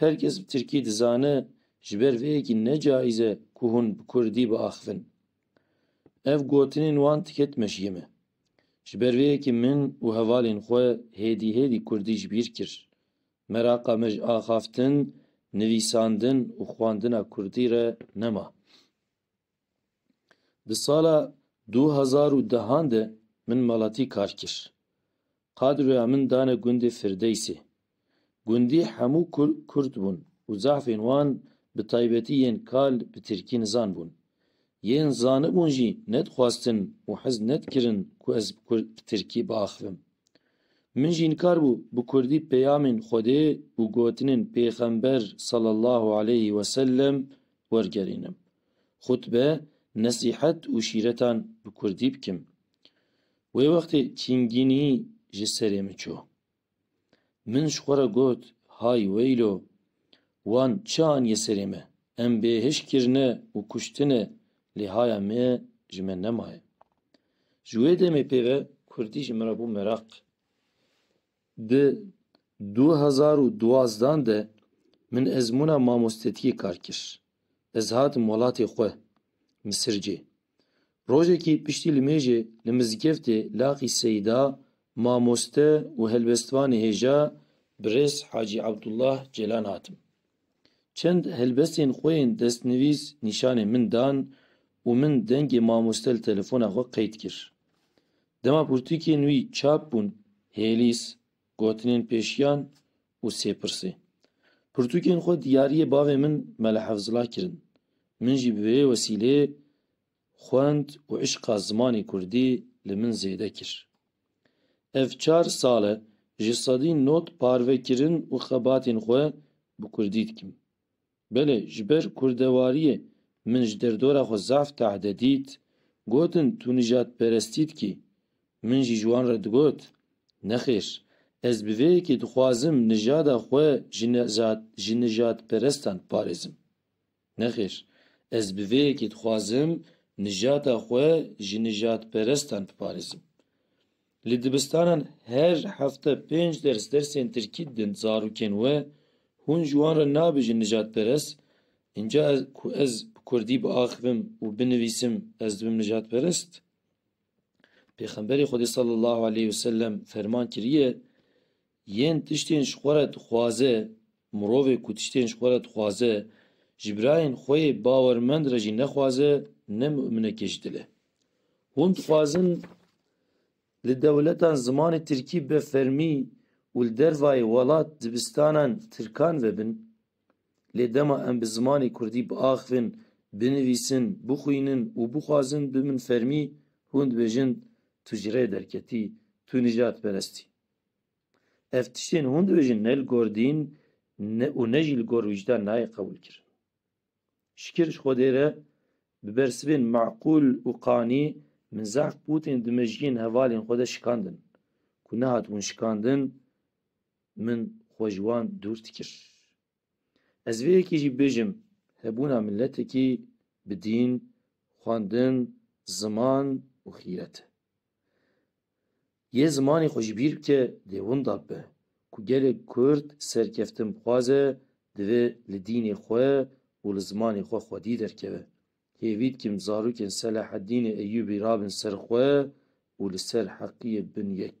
Her kes bi tirkî dizane ji ber vê yekî ne cayîz e ku hûn bi kurdî biaxivin. Ev gotinên wan tiket meşiyê me. Ji ber vê yekî min û hevalên xwe hêdî hêdî kurdî ji bîr kir. Meraqa me ji axaftin, nivîsandin û xwendina kurdî re nema. Di sala du hezar û dehan de min malatî kar kir. Qadroya min dane gundê Firdeysê. Gundî hemû Kurd bûn û zehfên wan bi taybetî yên kal bi Tirkî nizan bûn. Yên zanibûn jî nedixwastin û hez nedikirin ku ez bi Tirkî biaxivim. Min jî inkar bû bi Kurdî peyamên Xwedê û gotinên Pêxember sal Allah aleyh wesellem wergerînim. Xutbe, nesîhet û şîretan bi kurdî bikim. Wê wextê çingînî ji serê min çû. Min ji xwe re got, Hay weylo! Wan çi aniye serê me? Em bêhişk kirine û kuştine lê haya me ji me nemaye. Ji wê demê pê ve kurdî ji min re bû meraq. Di du hezar û duwazdan de min ezmûna mamostetiyê kar kir. Ez hatim welatê xwe Misircê. Rojekî piştî li mêjê li mizgeftê Laqî Seyda mamoste û helbestvanê hêja birêz Hacî Abdullah Celan hatim. Çend helbestên xwe yên destnivîs nîşanê min dan û min dengê mamoste li telefona xwe qeyd kir. Dema pirtûkên wî çap bûn, Hêlîs, Gotinên Pêşiyan û Sêpirsê. Pirtûkên xwe diyariyê bavê min Mele Hevzila kirin. Min jî bi vê wesîleyê xwend û îşqa zimanê kurdî li min zêde kir. Ev çar sal e ji sedî not parve kirin û xebatên xwe bi kurdî dikim. Belê, ji ber kurdewariyê min ji derdora xwe zaf tehdê dît, gotin tu nijadperestî dikî. Min jî ji wan re digot, Nexêr, ez bi vê yekê dixwazim nijada xwe ji ji nijadperestan biparêzim. Nexêr, ez bi vê yekê dixwazim nijada xwe ji nijadperestan biparêzim. Li dibistanan her hefte pênc ders dersên tirkî didin zarokên we, hûn ji wan re nabêjin nijadperest, înca ez ku ez bi kurdî biaxivim û binivîsim ez dibim nijadperest? Pêxemberê Xwedê sallallahu aleyh ve sellem ferman kiriye, yên tiştên ji xwe re dixwaze, mirovê ku tiştên ji xwe re dixwaze, ji birayên xwe yê bawermend re jî nexwaze, ne muminekê ji dil e. Hûn dixwazin li dewletan zimanê tirkî bi fermî û li dervayê welat dibistanan tirkan vebin. Lê dema em bi zimanê kurdî biaxivin, binivîsin, bixwînin û bixwazin bibin fermî, hûn dibêjin tu ji rê derketî, tu nijadperest î. Ev tiştên hûn dibêjin ne li gor dîn û ne jî li gor wijdan nayê qebûlkirin. Şikir ji Xwedê re bi bersivên meqûl û qanî min zehf bû tên di mejiyên hevalên xwe de şikandin. Ku nehatibûn şikandin min xwe ji wan dûr dikir. Ez vê yekê jî bibêjim hebûna miletekî bi dîn, xwendin, ziman û xîret e. Yê zimanê xwe jî bîr bike lê winda be ku gelê Kurd serkeftin bixwaze divê li dînê xwe û li zimanê xwe xwedî derkeve. Hêvî dikim zarokên Selaheddînê Eyûbî rabin ser xwe û li ser heqiyê bin yek.